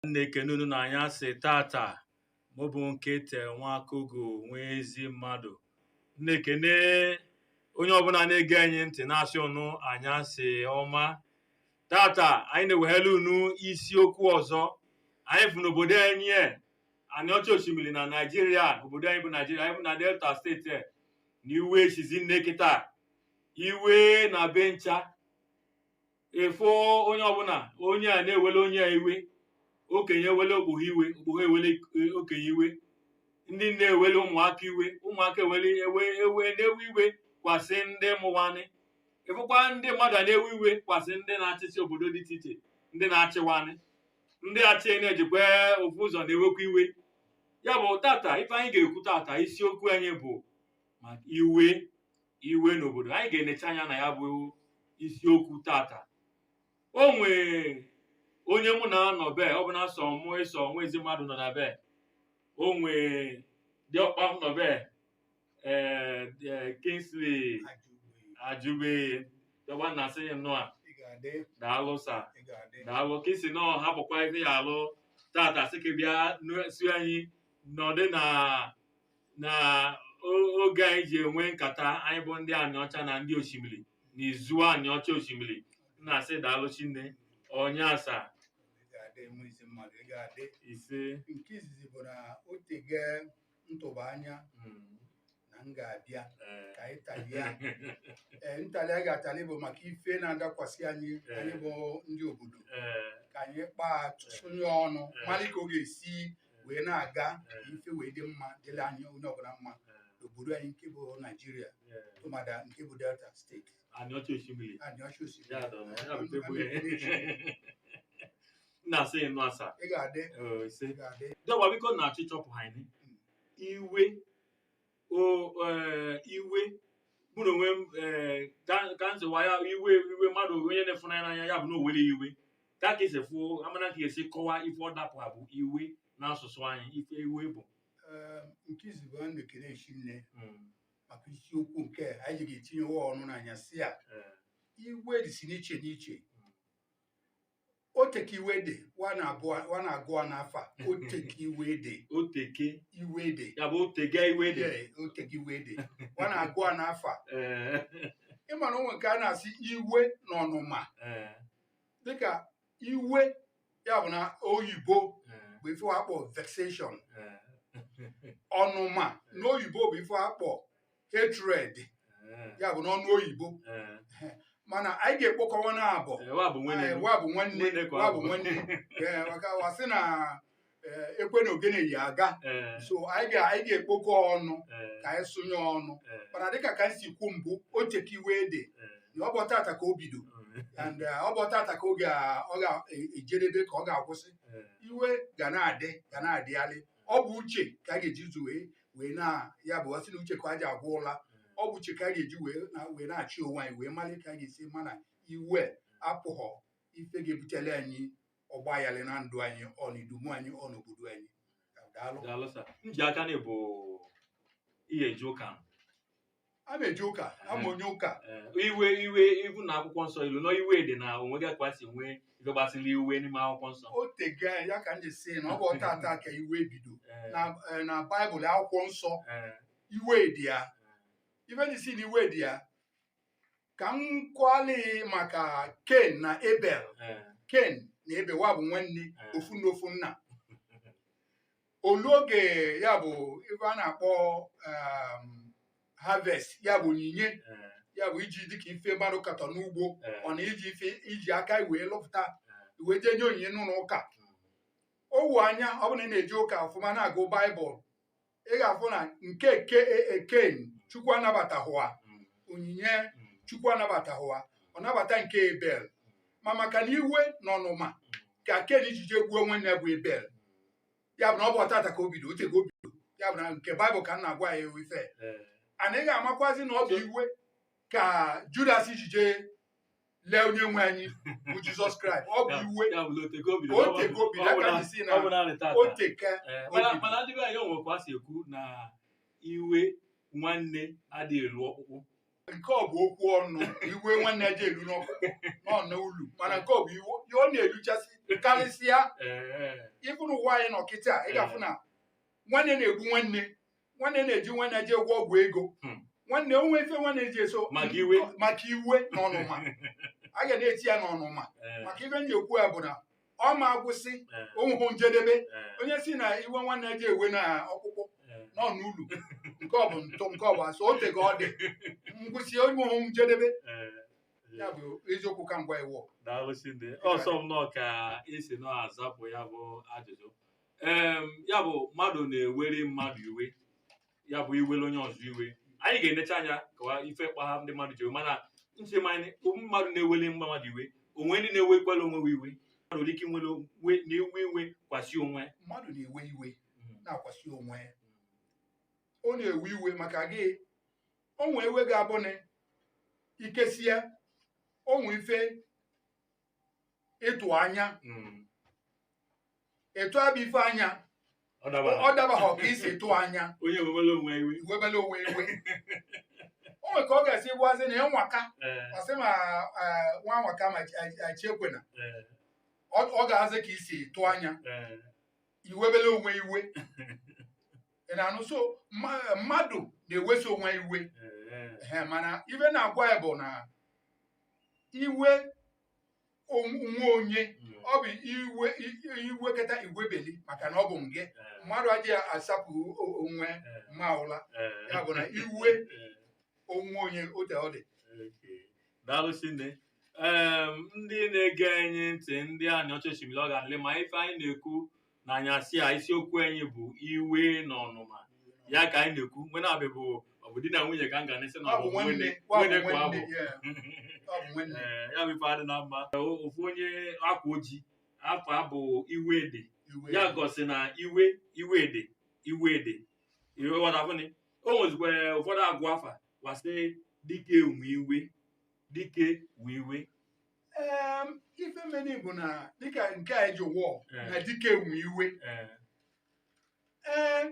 m na-ekene unu na anyasị tata mụ bụ nketa nwakogo nwa ezi mmadụ m na-ekene onye ọbụla na-ege anyị ntị na-asị ụnụ anyasị ọma tata anyị na-ewehara unu isiokwu ọzọ anyị fụ n'obodo anyị e, anị ọcha osimiri na naijiria obodo anyị bụ naijiria anyị bụ na delta steeti e, na iwe esizi nne kịta iwe na ebe ncha ị fụ onye ọbụla onye a na-ewele onye a iwe okenye ewele okpoho iwe okpoho ewele eh, okenye iwe ndị nne ewele ụmụaka iwe ụmụaka ewele ewe ewe na-ewe iwe kwasị ndị mụ wa nị ị fụkwa ndị mmadụ ana-ewe iwe kwasị ndị na-achịsị obodo dị iche iche ndị na-achị wa nị ndị achị na-ejikwa ofu ụzọ na-ewekwa iwe ya bụ tata ife anyị ga-ekwu tata isiokwu anyị bụ maka iwe iwe n'obodo anyị ga-enecha anya na ya bụ isiokwu tata o nwee onye mụ na a nọ ebe ọ bụna sọ mụ ịsọ nwa ezi mmadụ nọ na ebe o nwee diokpa m nọ ebe ee ee, Kingsley Ajube diokpa m na-asị ya nnọọ Ị ga-adị, daalụ sa ị ga-adị. daalụ ka i si nọọ hapụkwa ife ị ya-alụ tata sị ka ị bịa nụ- si anyị nọdụ na na o- oge anyị ji enwe nkata anyị bụ ndị anịọcha na ndị osimiri na izu anịọcha osimiri m na-asị daalụ sinne nnụa sa Ị ga-adị nwa ezi mmadụ, ị ga-adị. ise Nke izizi bụ na o tege m tụba anya mm, na m ga-abịa eh, ka anyị talie. Ee, ntali anyị ga-atali bụ maka ife na-adakwasị anyị anyị bụ ndị obodo eh, ka anyị kpaa tụsụnye ọnụ malị ka ọ ga-esi wee na-aga ife wee dị mma dịla anyị onye ọbụla mma n'obodo anyị nke bụ naijiria tụmadị nke bụ delta steeti anịọcha osimiri anịọcha osimiri Ya dọrọ, ya bụ tebụl ya. m na-asị ị nnụa sa ị ga-adị Ee, ise ị ga-adị diokpa biko na achịchọpụ anyị iwe o ee, iwe mụ na onwe m ee, ka ka m zụwa ya iwe iwe mmadụ onye na-afụ n'anya n'anya ya bụ na o nwere iwe ka ka esi fụ amana ka esi kọwaa ife ọ dapụ abụ iwe n'asụsụ anyị ife iwe bụ Ee, nke izizi bụ m na-ekene sinne Mm, maka isiokwu nke a, anyị ga-etinyewa ọnụ n'anyasị a ee, iwe dịsị n'iche n'iche oteke iwe dị wa na-abụ wa na-agụ a n'afa oteke iwe dị oteke iwe dị ya bụ oteke iwe dị Ee, oteke iwe dị wa na-agụ a n'afa Ee, ị mara o nwe nke a na-asị iwe na ọnụma ee, dịka iwe ya bụ na oyibo ee, bụ ife a kpọ vexation ee. ọnụma n'oyibo bụ ife a kpọ hatred Eh, ya bụ n'ọnụ oyibo eh. mana anyị ga-ekpokọ wa naabụ Eh, wa bụ nwene Eh, m. wa bụ nwanne Nwanne ka ọ wa bụ bụ. nwanne Eh, maka wa sị na eh, ekwe na ogene yi aga Eh, so anyị ga- anyị ga-ekpokọ ọnụ eh, ka anyị sụnye ọnụ eh, mana dịka ka anyị si kwu mbụ o teka iwe dị eh. na ọ bụ tata ka o bido Mm, and eh, ọ bụ tata ka ọ ga- ọ ga-ejedebe ka ọ ga-akwụsị eh. iwe ga na-adị ga na-adịgharị ọ bụ uche ka anyị ga-eji zu wee wee na ya bụ a sị na uche ka a ji agwa ụla ọ bụ uche ka a ga-eji wee na wee na-achị onwe anyị wee mara ka anyị ga-esi ma na iwe apụghọ ife ga-ebutele anyị ọgba aghara na ndụ anyị ọ na idumu anyị ọ na obodo anyị daalụ daalụ sa m ji aka na ị bụ onye na-eje ụka m ana m eje ụka abụ m onye ụka Eh, iwe iwe even na akwụkwọ nsọ ilu na iwe dị na onwe gị ka si nwee ife gbasara iwe n'ime akwụkwọ nsọ o tego anya ya ka m ji sị na ọ bụ tata ka iwe bido Eh, na eh, na baịbụl akwụkwọ nsọ eh, iwe dị ya ife m ji sị na iwe dị ya ka m kwuola ya maka ken na ebel Eh, ken na ebel wa bụ nwanne Eh. ofu nna ofu nna o lu oge ya bụ ife a na-akpọ um, harvest ya bụ onyinye eh, ya bụ iji dịka ife mmadụ katọ n'ugbo eh, ọ na iji ife i ji aka wee lụpụta wee jee nye onyinye n'ụlọ ụka o wu anya ọ bụrụ na ị na-eje ụka ọfụma na-agụ baịbụl ị ga-afụ na nke ken chukwu anabatahụ ya onyinye chukwu anabatahụ ya ọ nabata nke ebel ma maka na iwe na ọnụma ka ken ji jee gbuo nwanne ya bụ ebel ya bụ na ọ bụ tata ka o bido o teka o bido ya bụ na nke baịbụl ka m na-agwa ya ewu ife and ị ga-amakwazi na ọ bụ iwe ka judas ji jee lee onye nwe anyị bụ jizọs kraịst ọ bụ iwe ya bụ na o tego o biri o tego biri ya ka m ji sị na ọ bụ naanị tata o teka Ee, o mana biri. mana ndị be anyị o nwekwa a si ekwu na iwe nwanne adịghị elu ọkpụkpụ nke ọ bụ okwu ọnụ iwe nwanne eji elu n'ọkpụkpụ ọ nọ n'ulu mana nke ọ bụ iwu ya ọ na-eluchasị karịsịa Ee, even n'ụwa anyị nọ kịta ị ga-afụ na nwanne na-egbu nwanne nwanne na-eji nwanne jee gwọ ọgwụ ego Hmm. nwanne o nwe ife nwanne ji eso Maka iwe. maka iwe na ọnụma a ga na-eti ya n'ọnụma Eh, maka ife m ji ekwu ya bụ na ọ ma agwụsị eh, o nwehụ njedebe eh, onye sị na iwe nwanne eji ewe na ọkpụkpụ eh. nọ n'ulu nke ọ bụ ntụ nke ọ bụ asị o teka ọ dị ngwụsị o nwehụ njedebe Eh, ya bụ eziokwu ka m gwa ị o daalụ Chineke. ọ sọ m nnọọ ka i si na-azapụ ya bụ ajụjụ em ya bụ mmadụ na-ewere mmadụ iwe ya bụ iwere onye ọzọ iwe anyị ga-enecha anya kọwa ife kpaha ndị mmadụ ji iwe mana nche m na ụmụ mmadụ na-ewere mmadụ iwe o nwe ndị na-ewekwalụ onwe ha iwe mmadụ nwere ike nwere onwe na-ewe iwe kwasị onwe mmadụ na-ewe iwe na-akwasị onwe ya ọ na-ewe iwe maka gị o nwee iwe ga-abụ na ikesia o nwee ife ịtụ anya Mm. ị tụ ya bụ ife anya Ọ ọ dabara. ọ dabahọ ka i si tụ anya Onye wewere onwe iwe. i webele onwe iwe o nwere ka ọ ga-esi gwazi na ị nwaka Eh, a sị ma eh, nwa nwaka ma chi ekwena eh, ọ ọ gaazị ka i si tụ anya eh. i webele onwe iwe ị na-anụ so mma- mmadụ na-eweso onwe iwe Eh, Ehe, mana ife na-agwa ya bụ na iwe onwe onye ọ bụ iwe i wekata i webeli maka na ọ bụ nge mmadụ adịghị asapụ o- onwe ma ụla ya bụ na iwe onwe onye otu ọ dị daalụ sinne Em, ndị na-ege anyị ntị ndị anyị ọchọchimiri ọ ga-alị ma ife anyị na-ekwu na anyasị a isiokwu anyị bụ iwe na ọnụma ya ka anyị na-ekwu mgbe na-abịa bụ ọ bụ di na nwunye ka m ga na-esi na ọ bụ nwunye nwunye kwa abụ Ee, ya bụ ife adị na mma O- ofu onye akwa o ji afa bụ iwe dị ya gosi na iwe iwe dị iwe dị iwe ghọtafụnị o nwezikwa ụfọdụ a gụ afa wa sị dike nwe iwe dike nwe iwe Em, ife meni bụ na dịka nke a eji wọl Eh. na dike nwe iwe Eh, ee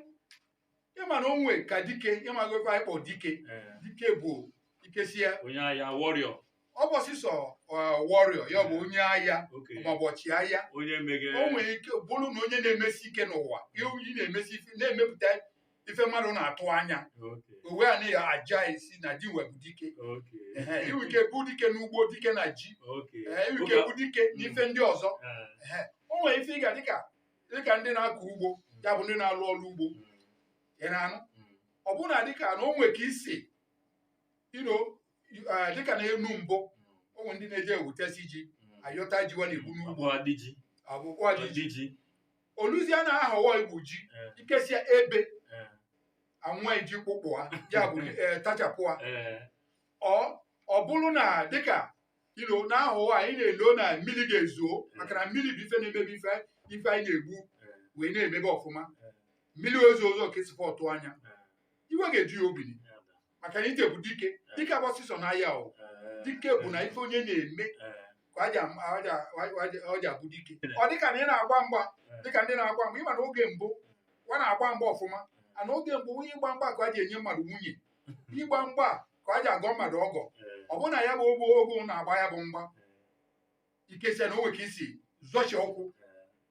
ị ma na o nwe ka dike ị mago ife anyị kpọ dike eh, dike bụ ikesia onye agha warrior ọ bụhọ sọsọ warrior ya bụ onye agha oke maọbụ ọchịagha onye meghe o nwere ike bụrụ na onye na-emesi ike n'ụwa ewu ị na-emesi ife na-emepụta ife mmadụ na-atụ anya uwe a na aja isi na ji webụ dike i nwe ike bụ dike n'ugbo dike na ji i nwe ike bụ dike mm. n'ife ndị ọzọ o nwere ife ị ga dịka dịka ndị na-akọ ugbo mm. ya bụ ndị na-alụ ọrụ ugbo mm. ị na-anụ ọ bụrụ na dịka na o nwere ka e si uh, dịka na enu mbụ o nwere ndị na-eje ewutesi ji ayọta ji wa na-egbu n'ugbo ọbụkwa ji o luzie n'ahọ a igwu ji Eh, ikesia ebe eh, anwa iji kpụkpụ ha ya bụ eh, tachapụ ha eh, ọ ọ bụrụ na dịka ilo n'ahọ a anyị na-elo na mmiri ga-ezo maka na mmiri bụ ife na-eme ife ife anyị na-egbu eh, wee na-emebe ọfụma Eh. mmiri ezo ozo ka e sikwa atụ anya eh, iwe ga-eju ya obi ya da. maka na ife bụ dike dike abụrọ sịsọ n'aya o dike bụ na ife onye na-eme ka ọ ji am- ọ ji a- ọ ji- ọ ji abụ dike ọ dịka na ị na-agba mgba dịka ndị na-agba mgba ị ma na oge mbụ a na-agba mgba ọfụma and oge mbụ onye ịgba mgba ka ọ ji enye mmadụ nwunye ịgba mgba ka ọ ji agọ mmadụ ọgọ ọ bụrụ na ya bụ ogbo ogbo na-agba ya bụ mgba ikesia na o nwere ka i si zọchie ụkwụ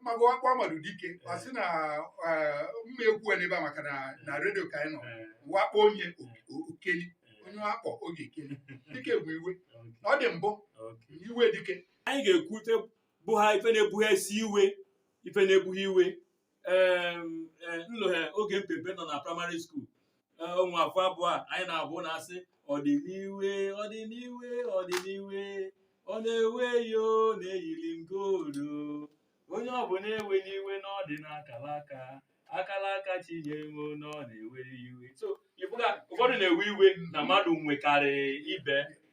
maka wa kpọ mmadụ dike wa sị na eh, m ma ekwu ya n'ebe a maka na na redio ka anyị nọ wa kpọ onye o- okeli onye wa kpọ oge ekeli dike bụ iwe na ọ dị mbụ Okay. iwe dike anyị ga-ekwu ife bụ ha ife na-ebuhesi iwe ife na-ebuhe iwe Em, eh, m lohe oge m pe mpe nọ na praịmarị skuul o nwe ofu abụ anyị na-abụ na-asị ọdịniwe ọdịniwe ọdịniwe ọ na-ewe yo na-eyiri m goolu onye ọbụla ewena iwe na ọ dị n'akala aka akala aka chi nyere na ọ na-ewe iwe so ịbụga ụfọdụ na-ewe iwe na mmadụ nwekarị ibe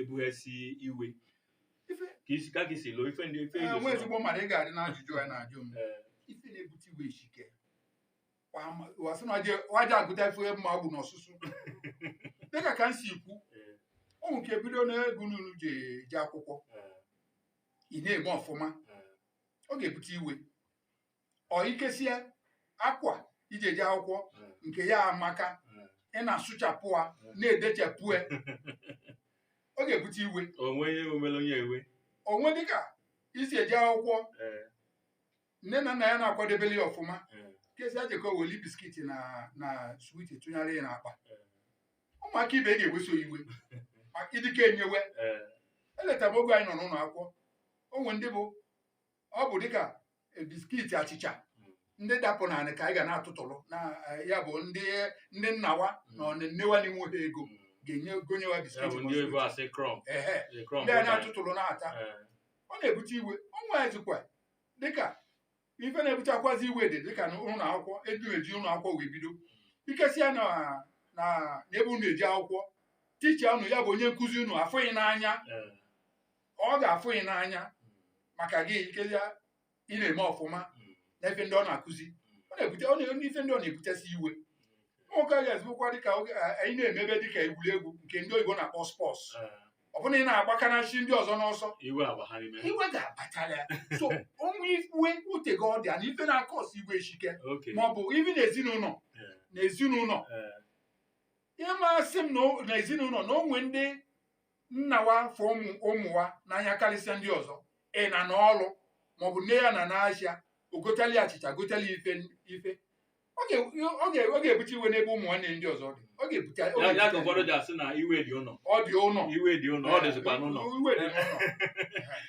ebuhesi iwe Ife- ka isi ka gị si lụọ ife ndị ife Ee, nwa igosi ezigbo mmadụ ị ga-adị n'ajụjụ a na-ajụ m Ee, ife na-ebute iwe eshike wa sị na wa je agụta ife mma ọ bụ n'ọsụsụ dịka ka m si kwu ee, ụmụ nke bido n'ego n'unu ji eje akwụkwọ ee, ị na-eme ọfụma ee, ọ ga-ebute iwe or ikesia akwa i ji eje akwụkwọ nke ya amaka ị na-asụchapụ ha na-edechapụ ya ọ ga-ebute iwe o nwee ihe o mere onye ewe o nwee dịka i si eje akwụkwọ ee nne na nna ya na-akwadebeli ya ọfụma ee kesia jekọ weli biskit na na switi tụnyere ya n'akpa ụmụaka ibe ga-eweso iwe maka ị dịka enyewe ee elotara m oge anyị nọ n'ụnọ akwụkwọ o nwere ndị bụ ọ bụ dịka eh, biskiti achịcha ndị dapụ na anị ka anyị ga na-atụtụrụ na eh, ya bụ ndị ndị nna wa na nne wa na-enwehọ ego ga-eji gonye wa ya biskiti bụ ma ndị oyibo sweet. asị crumb Ehe. the crumb ndị a bụ na- na-atụtụrụ na-ata Eh, ọ na-ebute iwe ọ nwezikwa dịka ife na-ebutekwazi iwe dị dịka na ụlọ akwụkwọ ebe e ji ụlọ akwụkwọ wee bido ikesịa na na n'ebe unu eje akwụkwọ ticha unu ya bụ onye nkụzi unu afụ gị n'anya eh, ọ ga-afụ gị n'anya maka gị ikelia ị na-eme ọfụma na ife ndị ọ na-akụzi ọ na-ebute ọ na-eme ife ndị ọ na-ebutesi iwe nwoke a ga-ezibụkwa dịka oge a- anyị na-emebe dịka egwuregwu nke ndị oyibo na-akpọ spọs ọ bụrụ na ị na-agbakanachi ndị ọzọ n'ọsọ iwe agba ha n'ime iwe ga-abatara ya so o wee iwe ute gị ọ dị ya na ife na-akpasu iwe eshike oke ma ọ bụ ibi na ezinụnọ Eh. na ezinụnọ Eh. ihe masị m na o- na ezinụnọ na o nwe ndị nna wa afụ ụmụ ụmụ wa n'anya karịsịa ndị ọzọ ị na n'ọrụ maọbụ nne ya na n'ahịa o gotali achịcha gotali ife ife ọ ga- ọ ga- ọ ga-ebute iwe n'ebe ụmụ nwanne ndị ọzọ dị ọ ga-ebute ọ ya ya ka ga-ebute ụfọdụ ji asị na iwe dị ụlọ ọ dị ụlọ iwe dị ụlọ ọ dịzikwa n'ụlọ iwe dị n'ụlọ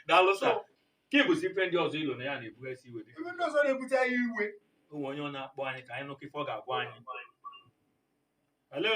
daalụ sa So, ka ịbụsi ife ndị ọzọ i lo na ya na-ebughasị iwe dị ebe ndị ọzọ na-ebute anyị iwe o nwe onye ọ na-akpọ anyị ka anyị nụkọ ife ọ ga-agwa anyị hello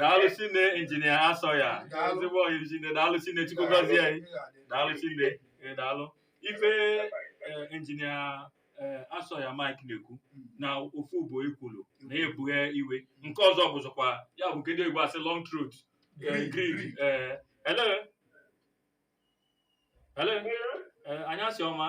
daalụ shinne injinia asoya ezigbo ọyị shinne daalụ shinne chukwu gọzie anyị daalụ shinne ee, daalụ ife ee, injinia ee, asoya mike na-ekwu na ofu bụ ekwolo na-ebughe iwe nke ọzọ bụzikwa ya bụ kedu egwu a sị long throat ee, greed ee, hello hello ee, anyasị ọma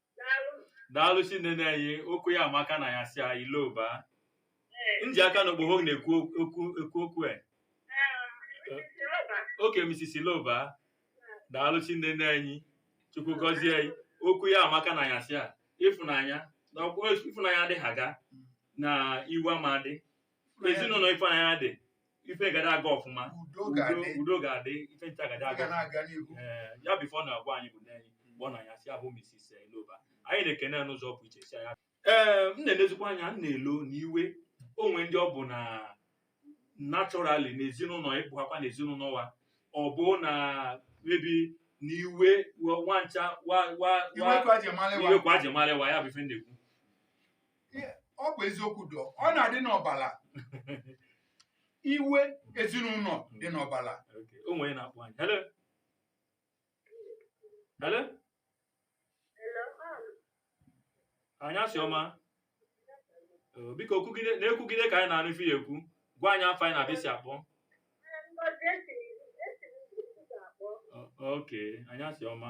daalụ shinne nne anyị okwu ya amaka n'anyasị a iloba nji aka na okpogho na-ekwu okwu ekwu okwu e oke misis iloba daalụ shinne nne anyị chukwu gọzie gị okwu ya amaka n'anyasị a ịfụnanya na ọ bụ ịfụnanya adịghị aga na iwe ama adị ezinụlọ ịfụnanya dị ife gada aga ọfụma udo ga-adị udo ga-adị ife ncha gada aga na-aga n'ihu ee ya bụ ife ọ na-agwa anyị bụ nne anyị mgbe ọ n'anyasị a bụ misis iloba anyị na-ekene ya n'ụzọ pụ iche si ya ee m na-elezikwa anya m na-elo na iwe o nwe ndị ọ bụ na naturally na ezinụlọ ị bakwa na ezinụlọ wa ọ bụ na maybe na iwe wa ncha wa wa iwe ka wa ji mara iwe ka wa ji mara wa ya bụ ife na-ekwu ọ bụ eziokwu though ọ na-adị n'ọbala iwe ezinụlọ dị n'ọbala o nwe onye na-akpọ anyị hello hello anyasị ọma biko na-ekwugide ka anyị na-anụ ife ị ya-ekwu gwa anyị afa gị na ebe i si akpọ oke anyasị ọma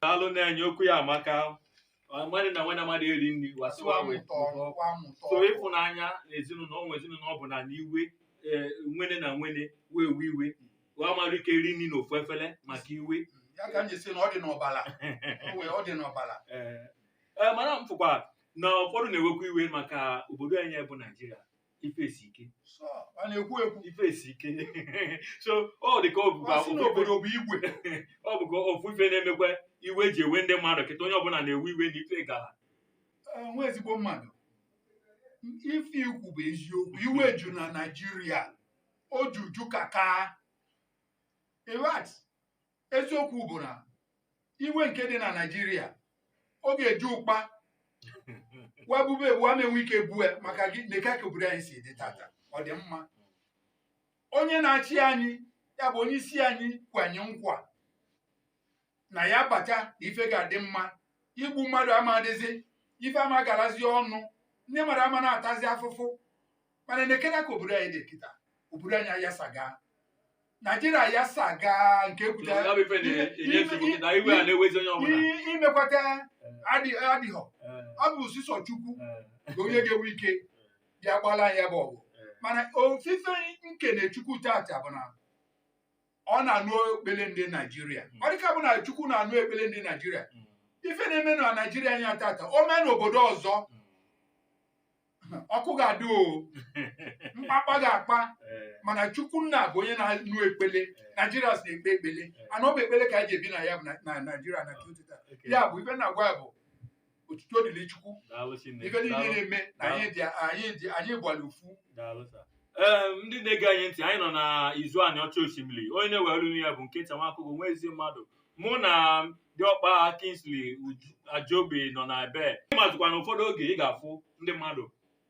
daalụ nna anyị okwu ya amaka mmadụ na nwene mmadụ eri nri wasịwa wee so ịfụnanya na ezinụlọ ụmụ ezinụlọ ọ bụ na iwe eh, nwene na nwene wee ewe iwe wa mara ike eri nri n'ofu efere maka iwe mm, ya ka m ji sị na ọ dị n'ọbara ọ dị n'ọbara eh, eh, mana m fụkwa na ụfọdụ na-ewekwa iwe maka obodo anyị bụ naijiria ife esi ike Sọ, a na-ekwu ekwu ife esi ike so ọ dị ka ọ bụkwa Ọ sị na ofu ife- obodo bụ igwe ọ bụkwa ofu ife na-emekwa iwe ji ewe ndị mmadụ kịta onye ọbụla na-ewe iwe na ife gara Eh, nwa ezigbo mmadụ ife i kwu bụ eziokwu iwe ju na naijiria o juju kakaraka eziokwu bụ na iwe nke dị na naijiria ọ ga-eju ụkpa wa bube ebu ama enwe ike bue maka gị nekwa ka obodo anyị si dị tata ọ dị mma onye na-achị anyị ya bụ onye isi anyị kwe anyị nkwa na ya bata na ife ga-adị mma igbu mmadụ ama adịzi ife ama garazi ọnụ ndị mmadụ ama na-atazi afụfụ mana nekena ka obodo anyị dị kịta obodo anyị ayasaga naijiria ayasaga nke ekwuta Ya bụ ife na-enye nsogbu na iwe a na-ewezi onye ọbụla i- imekwata adị- adịghọ ọ bụ sisọ chukwu bụ onye ga-enwe ike ya gbala ya bụ ọgụ mana ofu ife nkene chukwu tata bụ na ọ na-anụ ekpele ndị naijiria ọ dịka bụ na chukwu na-anụ ekpele ndị naijiria ife na-eme na naijiria anyị tata o mee n'obodo ọzọ ọkụ ga-adị o mkpakpa ga-akpa Ee, mana chukwu nna bụ onye na-anụ ekpele ee, naijiria si na-ekpe ekpele and ọ bụ ekpele ka anyị ji ebi na ya bụ na- na naijiria na kịta tata okay. ya bụ ife na-agwa ya bụ otuto dịrị chukwu Daalụ Chineke. ife niile Daalụ. na-eme na anyị dị anyị dị anyị gbara ofu Daalụ sir. Ee, ndị na-ege anyị ntị anyị nọ na izu anịọcha oshimili onye na-ewere olu ya bụ nkechi nwa akụkọ nwa ezi mmadụ mụ na diọkpa Kingsley Uju- Ajobi nọ na ebe ịmazikwa na ụfọdụ oge ị ga-afụ ndị mmadụ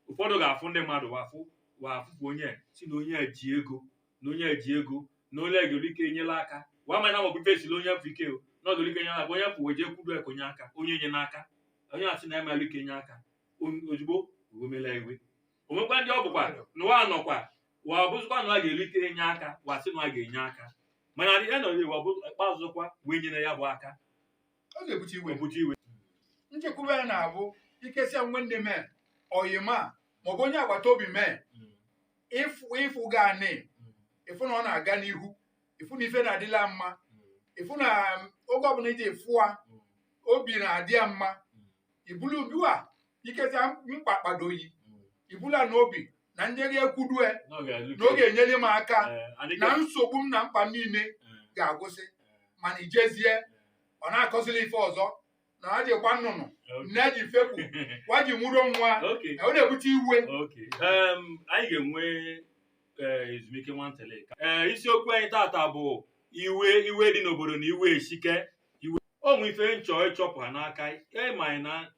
ụfọdụ ga-afụ ndị mmadụ wa fụ wa fụ onye si na onye a ji ego na onye a ji ego na onye ga-eri ike enyela aka wa ma na maọbụ ife esila onye afụ ike o na ọ ga-eri ike enyela aka onye afụ wee jekwudo e ka o nye aka onye nye n'aka onye a sị na ama eli ike nye aka O- ozugbo o wemela iwe o nwekwa ndị ọ bụkwa na wa nọkwa wa ọ bụzịkwa na ọ ga-eri ike nye aka wa sị na ọ ga-enye aka mana adị ya na ọ bụ ikpeazụkwa wee nyere ya bụ aka ọ na-ebute iwe ebute iwe nchekwube ya na-abụ ikesia nwe ndị mee oyi m maọbụ onye agbata obi mee ịfụ ịfụ ga anị ịfụ na ọ na-aga n'ihu ịfụ na ife na-adịla mma ịfụ na oge ọbụla iji fụ a obi na-adị ya mma ibulu ubiwa ikezi mkpa kpado yi i bula n'obi na nyeri ekwudue na ọ ga-alụ na ọ ga-enyere m aka Eh, adịghị- na nsogbu m na mkpa m niile Eh, ga-agwụsị mana i jezie ọ na-akọzili ife ọzọ na ha jikwa nnụnụ okay. nne ji fepụ wa ji mụrụ nwa Okay. ọ na-ebute iwe Okay. Um, anyị ga-enwe eh, ezumike nwantele ee isiokwu anyị tata bụ iwe iwe dị n'obodo na iwe esike iwe o nwe ife nchọ ịchọpụta n'aka ịma anyị na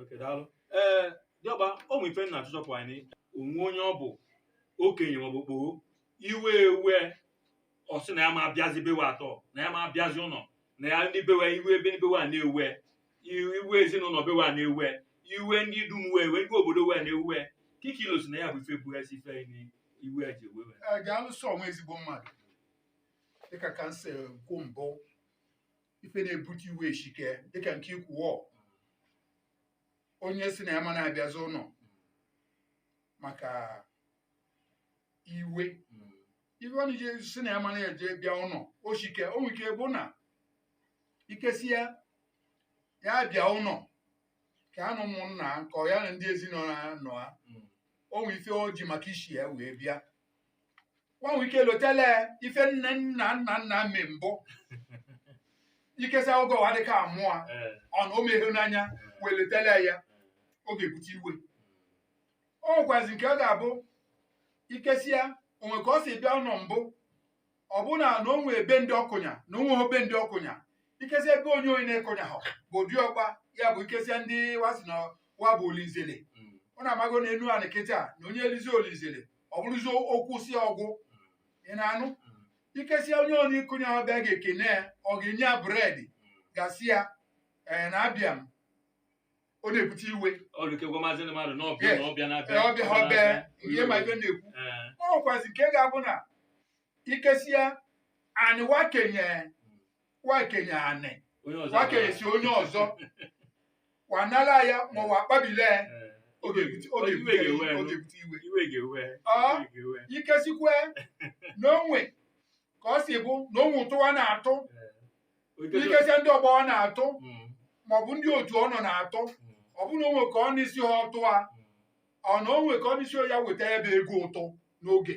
Okay, daalụ. Ee, dịọkpa o nwere ife m na-achọ ịchọpụ anyị o nwe onye ọ bụ okenye maọbụ okpoho iwe wee ọ sị na ya ama abịazi be we atọ na ya ama abịazi ụnọ na ya ndị be we iwe ebe ndị be we a na-ewe i- iwe ezinụnọ be we a na-ewe iwe ndị idumu we iwe ndị obodo we na-ewe kị ka i lo sị na ya bụ ife bụ isi ife anyị iwe ji ewe we Ee, ga-alụso ọnwa ezigbo mmadụ dịka ka m si kwu mbụ ife na-ebute iwe eshike dịka nke i kwu o onye sị na ya ama na-abịazi ụnọ maka iwe ife ọ na-eji sị na ya ama na-eje bịa ụnọ oshike o nwere ike bụ na ikesia ya bịa ụnọ ka ya na ụmụnna ya, ka ya na ndị ezinụnọ ya nọ ya o nwere ife o ji maka isi ya wee bịa wa nwe ike lotele ife nne nna nna nna me mbụ ikesia oge ụwa dịka amụọ Eh, ọna o meghe n'anya wee lotele ya ọ ga-ebute iwe o nwekwazi nke ọ ga-abụ ikesia o nwe ka ọ si bịa ụlọ mbụ ọ bụ na na o nwe ebe ndị ọkụnya na o nwe ebe ndị ọkụnya ikesi ebe onye onye na-ekụnya ha bụ dịọkpa ya bụ ikesia ndị wa sị na wa bụ olinzele mm, ọ na-amago na enu anị kịta na onye elizi olinzele ọ bụrụzi o kwusi ọ gwụ ị na-anụ ikesia onye onye ikunye ọ bịa ga-ekene ya ọ ga-enye ya bread gasịa ee na abịa m ọ na-ebute iwe ọlụkegwa maazị ndị mmadụ n'ọbịa Yes. na ọbịa na-abịa Ee, ọ bịa ha ọ bịa ihe ma ibe na-ekwu Ee, ọ nwekwazị nke ga-abụ na ikesia anị wa kenye wa kenye anị onye ọzọ wa kenyesi onye ọzọ wa nala ya ma wa akpabile ya Eh, ọ ga-ebute ọ ga-ebute Iwe ga-ewe ọ nụ. ga-ebute iwe iwe ga-ewe Ah. iwe ga-ewe ikesikwe na o nwe ka ọ si bụ na o nwe ụtụ a na-atụ Eh, oke- ikesịa ndị ọgbọ ọ na-atụ Mm, maọbụ ndị otu ọ nọ na-atụ mm, ọ bụrụ na o nwe ka ọ n'isi ha ọtụ a mm. ọ na o nwe ka ọ n'isi ya weta ya bụ ego ụtụ n'oge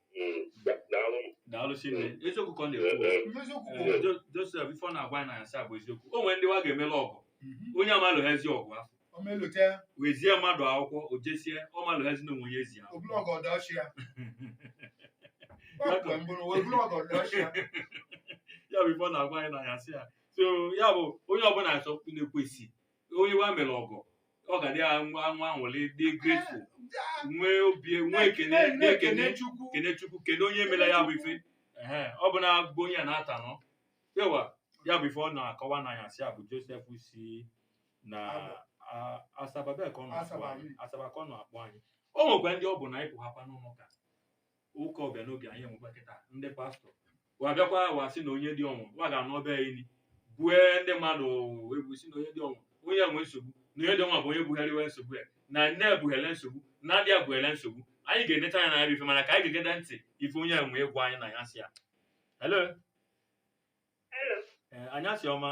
daalụ chinne eziokwu ka ọ na-ekwu Josef ife ọ na-agwa anyị n'anyasị a bụ eziokwu o nwere ndị wa ga-emele ọgọ onye amalụ ha ezi ọgọ afụ we zie mmadụ akwụkwọ o jesie ọ malụ ha ezi na o nwe onye zi a ya bụ ife ọ na-agwa anyị n'anyasị a so ya bụ onye ọbụna achọ na-ekwesị onye wa mele ọgọ ọ ga-adị anwa anwa anwụlị dị grateful nwee obi nwee ekene na-ekene Chukwu kene Chukwu kene onye mela ya bụ ife Ehe, ọ bụ na bụ onye a na-ata nọ ewa ya bụ ife ọ na-akọwa n'anyasị a bụ Josef sị na a- Asaba bee ka ọ nọ akpọ anyị Asaba ka ọ nọ akpọ anyị o nwekwa ndị ọ bụ na ịpụ hapa n'ụlọ nga ụka ọbịa n'obi anyị enwekwa kịta ndị pastọ wa bịakwa wa sị na onye dị ọnwa wa ga na be ya ili bue ndị mmadụ egwu si na onye dị ọnwa onye enwe nsogbu na onye dị ọnwa bụ onye bugharịwa nsogbu ya na nne ebughele nsogbu na adị abụghele nsogbu anyị ga-eneta anya n'anya bụ ife mana ka anyị ga-egede ntị ife onye nwe ịgwa anyị na ya sị ya hello Hello. ee anyasị ọma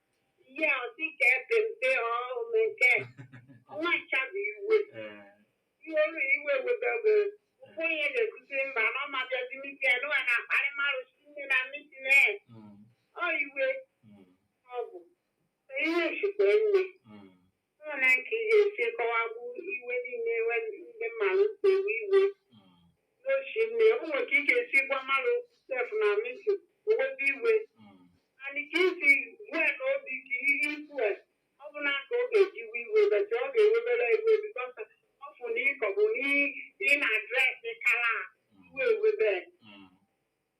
Ihe ọ dị ka epe mpe ọhụrụ nke ọnwa nchabi iwe. Ee. Iwe olu iwe webebe. Ụkwụ ihe na-ekwuzi mba na ọ ma bịazi mitin ya n'ụwa na-akparị mmadụ si nne na mitin na ya. Mm. Ọ iwe Mm. ọ bụ. Iwe sikwa nne. Mm. Olee ka ị ga-esi kọwagbu iwe niile iwe ndị mmadụ na-ewe iwe na o si nne? O nwere ka ị ga-esi gwa mmadụ okwu sef na mitin o webe iwe anyị ka isi gwe na obi ka ihe ikwu a, ọ bụ na ka ọ ga-eji iwe iwe but ọ ga-ewebere iwe because ọ fụ na ịkọbụ na ị na-adress kala iwe ewebe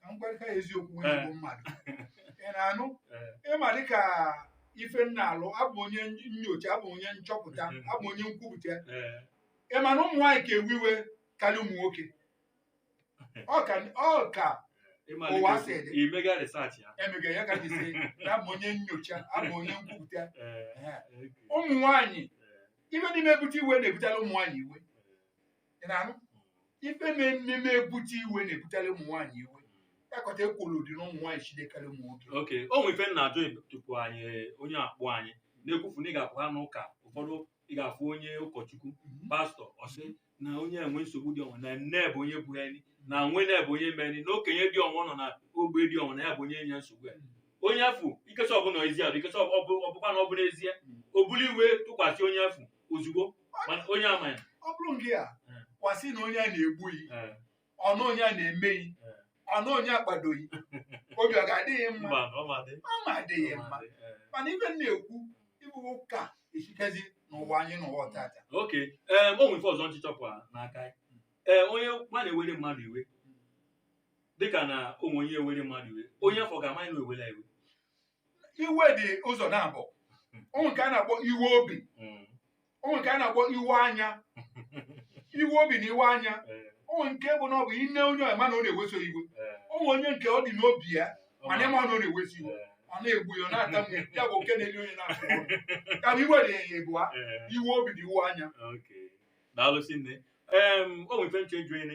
ka m gwarịta ya eziokwu onye bụ mmadụ ị na-anụ ị ma dịka ife m na-alụ abụ m onye nyocha abụ m onye nchọpụta abụ m onye nkwupụta ị ma na ụmụ nwaanyị ka ewe iwe kala ụmụ nwoke ọ ka ọ ka ụwa si dị i mego research ya emego ya ka m ji sị na abụ m onye nyocha abụ m onye nkwupụta Ehe. ụmụ nwaanyị ife dị na-ebute iwe na-ebutela ụmụ nwaanyị iwe Ị na-anụ? ife na-eme ebute iwe na-ebutere ụmụ nwaanyị iwe akọta ekworo dị na ụmụ nwaanyị si nne karị ụmụ nwoke oke o nwere ife m na-ajụ tupu anyị onye a kpọọ anyị na-ekwufu na ị ga-apụ ha n'ụka ụfọdụ ị ga-afụ onye ụkọchukwu pastọ ọ sị na onye enwe nsogbu dị ọnwa na nne bụ onye bụ enyi na nwanne bụ onye mere na okenye dị ọnwa nọ na ogbe dị ọnwa na ya bụ onye nwe nsogbu ya onye afụ ikesa ọ bụ n'ezi adụ ikesa ọbụ- ọ bụkwa na ọ bụ n'ezie o buli iwe tụkwasị onye afụ ozugbo mana onye ama ya ọ bụrụ nke a Eh. gwa sị na onye a na-egbu ghị Eh, ọnụ onye a na-eme ghị Eh. ọnụ onye akpadoghị obi ọ ga-adịghị mma mba ọ ma dị ọ ma adịghị ọ ma mma dị, eh. mana ife m na-ekwu ịbụ ụka esikazi n'ụwa anyị nụwa tata ok ee o nwere ife ọzọ m chọ ịchọpụta n'aka gị. ee onye ma na-ewere mmadụ iwe dịka na o nwee onye ewere mmadụ iwe onye afụ ga-ama na ewere ya iwe iwe dị ụzọ nabọ o nwe nke a na-akpọ iwe obi Mm. o nwe nke a na-akpọ iwe anya iwe obi na iwe anya Eh, o nwe nke bụ na ọ bụ i nee onye ị ma na ọ na-eweso iwe eh, o nwe onye nke ọ dị n'obi ya mana ị ma na ọ na-eweso iwe eh, ọ na-egbu ya ọ na-atamu ya ya bụ oke na-eli onye na-atụ ụjọ. ya bụ iwe dị ya ebụa eh. iwe obi na iwe anya Okay. Daalụ si nne. Em, o nwere ife m chọ ịjụ ene.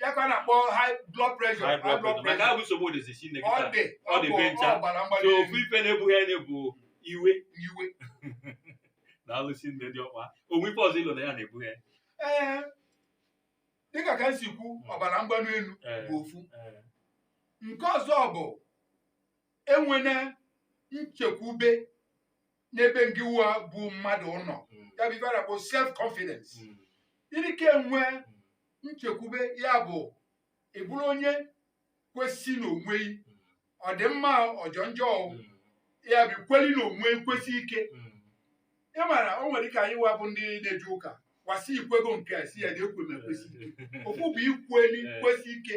ya ka a na-akpọ high blood pressure high blood pressure maka ahụ nsogbu dịzi sinne ọ kịta dị ọ dị be ncha. ọbara mgbali so ofu elu ife na-ebuhe nya bụ iwe iwe na-alụ sinne dị ọkpa o nwe ife ọzọ i lo na ya na-ebuhe nya ee dịka ka m si kwu ọbara mgbali elu Ee, bụ ofu ee, nke ọzọ bụ enwene nchekwube n'ebe ngịwa bụ mmadụ nọ mm, ya bụ ife a na-akpọ self confidence mm, ịdịka enwe mm, nchekwube ya bụ ị bụrụ onye kwesi n'onwe gị ọ dị mma ọjọ njọ ya bụ kweli n'onwe i kwesi ike ị mara o nwe dịka anyị wa bụ ndị na-eje ụka wa sị i kwego nke a si ya na ekwe m ekwesi ike okwu bụ ikweli kwesi ike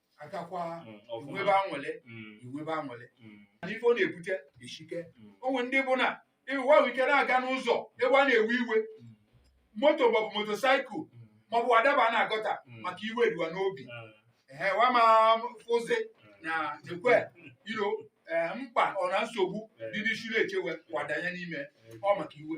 agakwa Mm, ọfụma. inwebe anwụlị Mm, inwebe anwụlị mm, mana ife ọ na-ebute eshike mm, o nwere ndị bụ na ịwa ahụ ike na-aga n'ụzọ ebe a na-ewe iwe mm, moto maọbụ motosaịkụl mm, maọbụ adaba na gọta Mm. maka iwe eri wa n'obi ah, ehe wa ma fụzi na ekwe iro mkpa ọ na nsogbu dị n'isi na-echewe wa adanye n'ime ọ maka iwe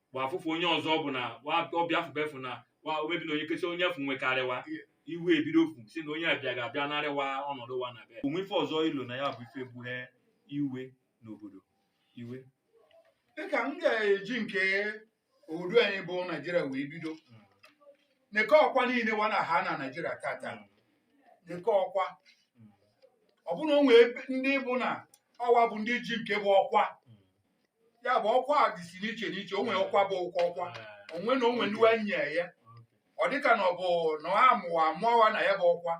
bụ afụfụ onye ọzọ ọ bụ na wa ọbịa afụba efu na wa omebi na onye kecha onye efu wekarịwa iwe ebido ofu si na onye abịa ga-abịa narịwa ọnọdụ wa na be o nwe ife ọzọ i lo na ya bụ ife buhe iwe n'obodo iwe dịka m ga-eji nke obodo anyị bụ naijiria wee bido neke ọkwa niile wa na ha na naijiria tata neke ọkwa ọbụna o nwee ebe- ndị bụ na ọwa bụ ndị ji nke bụ ọkwa ya bụ ọkwa a dịsi n'iche n'iche o nwere ọkwa bụ ụkwa ọkwa onwe na onwe ndị e nye ya ọ dịka na ọ bụ na a mụ wa amụ wa na ya bụ ọkwa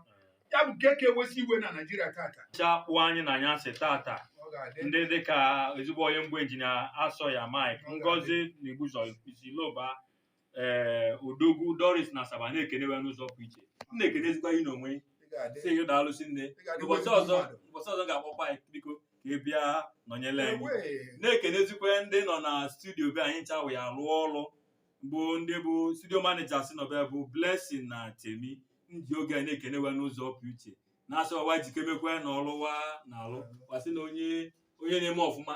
ya bụ nke ka ewesi iwe na naijiria tata cha kpọ anyị na anyasị tata ọ ga-adị ndị dịka ezigbo onye m bụ injinia asọya mike ngozi na igbuzo isi loba ee eh, odogwu doris na asaba na-ekene ya n'ụzọ pụ iche m na-ekenezikwa gị n'onwe sị gị daalụ sinne ụbọchị ọzọ ụbọchị ọzọ ga-akpọkwa anyị biko ka ị bịa nọnyere anyị na-ekenezikwa ndị nọ na studio be anyị ncha wa rụọ ọrụ bụ ndị bụ studio maneja si nọbe bụ blessing na temi ndị oge anyị na-ekene ya n'ụzọ pụ iche na-asị wa jikemekwa na ọlụ wa na-alụ wa sị na onye onye na-eme ọfụma